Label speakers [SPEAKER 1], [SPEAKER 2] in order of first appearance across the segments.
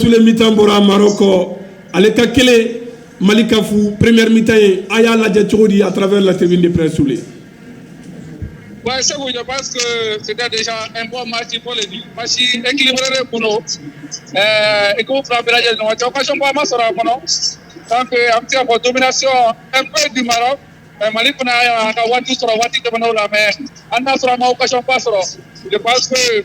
[SPEAKER 1] Sule mi-temps bɔra Maroc ale ka kelen Mali ka fu première mi-temps ye a y'a lajɛ cogo di à travers la tribune de presse Sule? Ouais Seku je pense que c'était déjà un bon match il faut le dire match équilibré de tun don ɛɛ équipe fila bɛɛ lajɛlen ni ɲɔgɔn cɛ occasion ba ma sɔrɔ a kɔnɔ donc an bɛ se ka fɔ domination un peu du Maroc mais Mali fana y'a ka waati sɔrɔ waati tɛmɛnenw la mais hali n'a y'a sɔrɔ an ma occasion ba sɔrɔ je pense que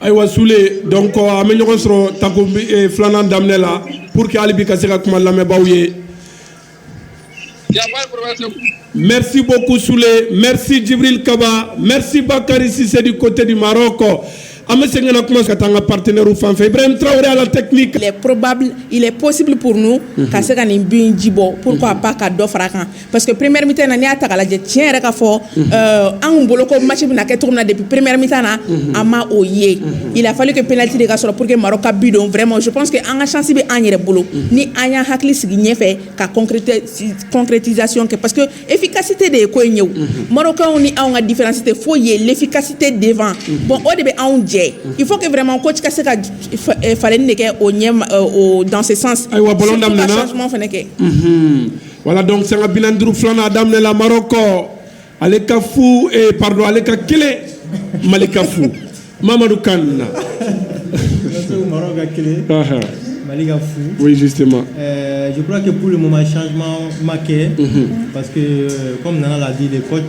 [SPEAKER 1] ayiwa sule donc an bɛ ɲɔgɔn sɔrɔ tako eh, filanan daminɛ la pour que hali bi ka se ka kuma lamɛnbaaw ye Merci beaucoup Sule, merci Djibril Kaba, merci Bakary Cissé du côté du Maroc. An bɛ segin ka kuma ka taa an ka partenaires fan fɛ Ibrahim Traoré à la technique. Il est probable, il est possible pour nous ka se ka nin bi in ji bɔ pourquoi pas ka dɔ fara kan. parce que première mi-temps na n'i y'a ta k'a lajɛ tiɲɛ yɛrɛ ka fɔ euh, an tun bolo ko match bɛna kɛ cogo min na depuis première mi-temps na an ma o ye il a fallu que penalty de ka sɔrɔ pour que Maroc ka but don vraiment je pense que an ka chance bɛ an yɛrɛ bolo ni an y'an hakili sigi ɲɛfɛ ka concréti- concrétisation kɛ parce que efficacité de ye ko in ye o Marocains ni anw ka différence tɛ foyi ye l'efficacité devant bon o de bɛ anw jɛ il faut que vraiment coach ka se ka fa- eh, falenni de kɛ o ɲɛ ma- euh, o dans ce sens Ayiwa, ballon Surtout ka daminɛna. changement fana kɛ Mhm. wala donc sanga bi naani duuru filanan a daminɛla marɔkɔ ale ka fu eh, pardon ale ka kelen mali ka fu mamadu kan na Mali ka fu. Oui, justement. Euh, je crois que pour le moment, changement marqué. Mm -hmm. Parce que, euh, comme Nana l'a dit, les coachs,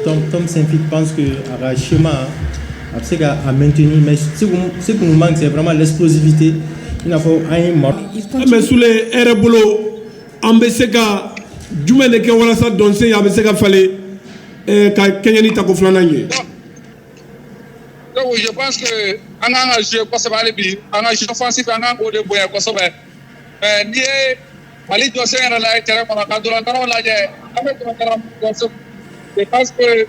[SPEAKER 1] Tom, Tom Saint-Fit pense que à schéma, hein, à, à maintenir. Mais ce qui nous manque, c'est vraiment l'explosivité. Il n'a pas un mort. Ah, mais sous les Erebolo, an bɛ se ka jumɛn de kɛ walasa dɔnsen a bɛ se ka falen ka kɛɲɛni tako filanan ye donc je pense que an ka kan ka jouer kosɛbɛ hali bi an ka jeu offensif an ka kan k'o de bonya kosɛbɛ mais n'i ye Mali jɔsen yɛrɛ lajɛ terrain kɔnɔ ka ntolatannaw lajɛ an bɛ ntolatanna minnu jɔsen je pense que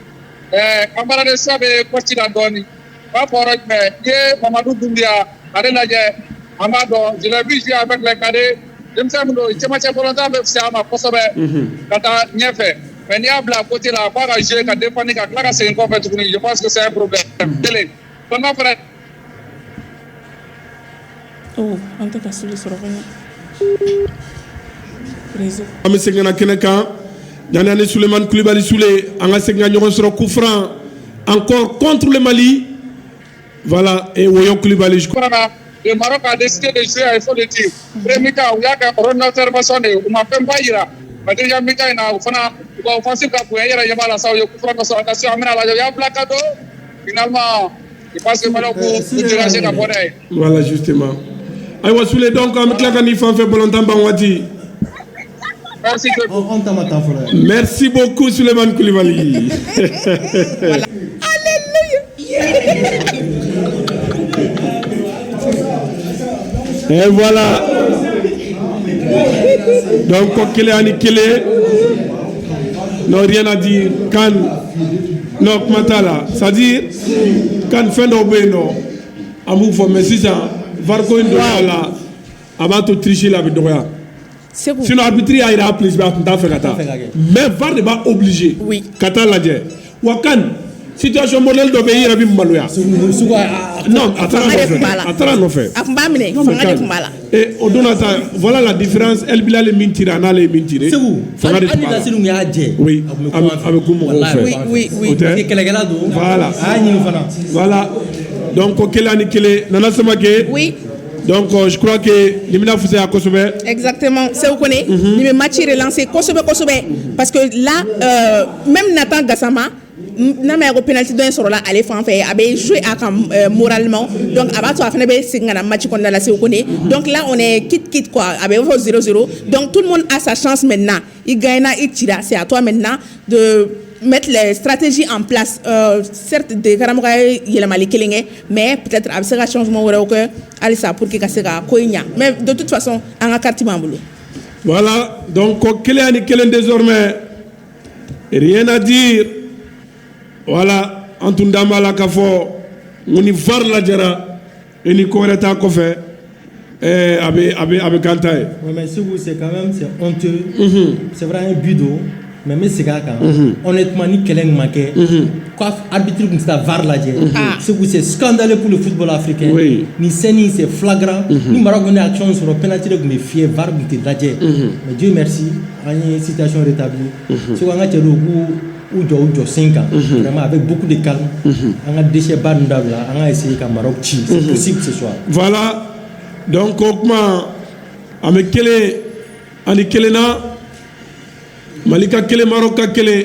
[SPEAKER 1] an bara dɛsɛ bɛ poste la dɔɔnin Ba fɔra jumɛn i ye Mamadu Dunbiya ale lajɛ an b'a dɔn je l'ai vu jouer avec les cadets denmisɛn min don cɛmancɛ balontan bɛ fisaya a ma kosɛbɛ ka taa ɲɛfɛ mais n'i y'a bila côté la k'a ka jouer ka défendre ka tila ka segin kɔfɛ tuguni je pense que c'est un problème kelen filanan fana an tɛ seli sɔrɔ an bɛ seginna kɛnɛ kan yan ni Sulemani kulubali sule an ka segin ka ɲɔgɔn sɔrɔ coup franc encore contre le Mali voilà Woyo kulubali su de u ma fɛn ba jira ma in na o fana fasi ka bonya yɛrɛ yala sa ye ka an la ka don I b'a se malo ko jira se ka bɔ dɛ voilà justement ayiwa sule donc an bɛ tila ka na i fan fɛ balontan ban waati merci que An ta ma taa fɔlɔ yan. merci beaucoup sulemani kulubali et voilà donc ko kelen ani kelen non rien à dire kan non kuma t'a la c'est à dire kan fɛn dɔw bɛ yen n'an b'u fɔ mais sisan var ko in dɔgɔya la a b'a to tirisi la a bɛ dɔgɔya sinon arbitre y'a jira a plus a tun t'a fɛ ka taa mais var de b'a obliger ka taa a lajɛ wa kan situation modèle dɔ bɛ i yɛrɛ bɛ maloya non a taara nɔfɛ a taara nɔfɛ a tun b'a minɛ fanga de tun b'a la ee o donna sa voilà la différence El Bilal ye min tirer a n'ale ye min tirer Sékou fanga de hali tun b'a la Nasiri kun y'a jɛ oui a bɛ a bɛ ku mɔgɔw fɛ Oui, oui, oui. o tɛ kɛlɛkɛla don Voilà. a y'a ɲini fana voilà donc ko kelen ani kelen Nana Samake Oui, donc euh, je crois que nin bɛna fisaya kosɛbɛ exactement. Sékou Koné, nin bɛ match relancer kosɛbɛ kosɛbɛ. Parce que là, euh, même Nathan Gassama, n'a ma ko psi dɔ in sɔrɔla ale fan fɛ a bɛ so a ka mma a b'a to a fana bɛ segin kana maci kɔnɔna lase ko dɔn ki ki a bɛ fɔ s s dɔn tu a sa sans mɛn na i gana i ci se a to mɛn na mɛ tile siratsi an sɛti de karamɔgɔmɔgɔ ye yɛlɛmamani kelen kɛ mɛ p a bɛ se ka sɔn sumaworo wɛrɛ kɛ halisa pour que ka se ka ko in ɲɛ mɛ dontufa sɔn an ka kati' an bolo wala dɔn ko kelen ni kelen deɔrɔmɛ Reji wala an tun da b'a la ka fɔ u ni fa lajɛra i ni ko wɛrɛ ta kɔfɛ a bɛ kanta ye mɛ segu se ka an to sɛra ye bi don mɛ bɛ segin a kan ne tuma ni kɛlɛ ɲuman kɛ a bɛti tun taa fa lajɛ segu se sudalen tun futbɔla fɛ kɛ ni senni fila garan ni mara tun' a sɔrɔ pti tun bɛ fi tun tɛ lajɛ mɛ jo an ye situation rétablie unhun Sékou an ka cɛ dɔw k'u u jɔ u jɔsen kan unhun vraiment avec beaucoup de calme unhun an ka déchet ba ninnu dabila an ka essayer ka Maroc ci c'est unhun possible ce soir voilà donc o tuma an bɛ kelen ani kelenna mali ka kelen marɔk ka kelen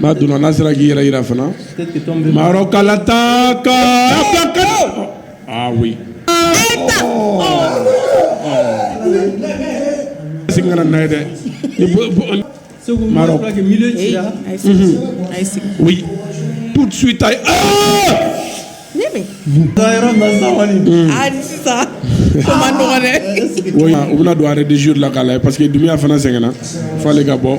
[SPEAKER 1] N'a donna n'a sera k'i yɛrɛ jira fana marɔkata ka sigi kana na ye dɛ Sékou tout de suite u bɛna don a dizuru la k'a la parce que Doumbia fana sɛgɛnna fo ale ka bɔ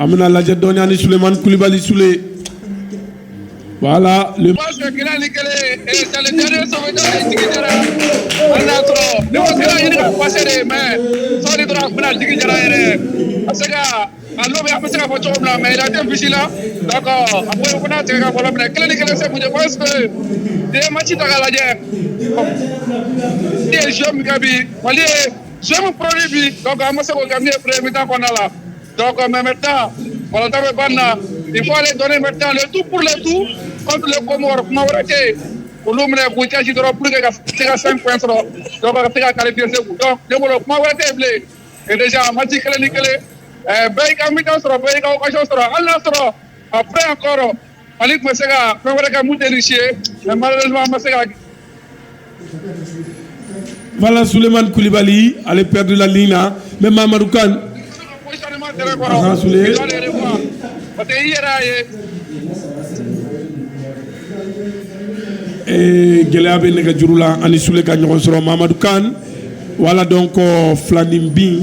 [SPEAKER 1] An bɛna a lajɛ dɔɔnin ni sulemani kulubali sule wala le mɛ Donc mais maintenant, ntolatan banna, il faut aller donner maintenant le tout pour le tout contre les Comores. Kuma wɛrɛ tɛ yen. Olu minɛ k'u cɛsiri dɔrɔn pour que ka se ka cinq points sɔrɔ donc ka se ka qualifier second. Donc ne bolo kuma wɛrɛ tɛ yen bilen. Et déjà match kelen ni kelen ɛɛ bɛɛ y'i ka mi-temps sɔrɔ bɛɛ y'i ka occasion sɔrɔ hali n'a sɔrɔ après encore Mali tun bɛ se ka fɛn wɛrɛ kɛ mun tɛ Russie ye mais malheureusement an ma se ka Voilà Souleymane Koulibaly ale perdula ligne na mais Mamadou Kane positionnement terrain kɔrɔ, Ahan, Souley. i doit le revoir. Parce que i yɛrɛ y'a ye ee gɛlɛya bɛ nɛgɛjuru la an ni Soule ka ɲɔgɔn sɔrɔ Mamadou Kane voilà donc filaninbin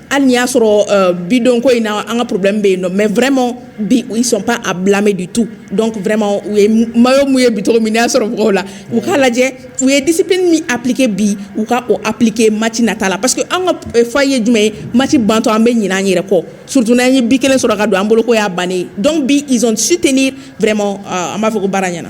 [SPEAKER 1] hali ni y'a sɔrɔ bi don ko in na an ka problème bɛ yen nɔ mais vraiment bi ils sont pas à blâmer du tout donc vraiment u ye maillot mouiller bi cogo min n'i y'a sɔrɔ mɔgɔw la u k'a lajɛ u ye discipline min appliquer bi u ka o appliquer match nata la parce que an ka défaut ye jumɛn ye match bantɔ an bɛ ɲinɛ an yɛrɛ kɔ surtout n'an ye bi kelen sɔrɔ ka don an bolo ko y'a bannen donc bi ils ont su tenir vraiment euh, an b'a fɔ ko baara ɲɛna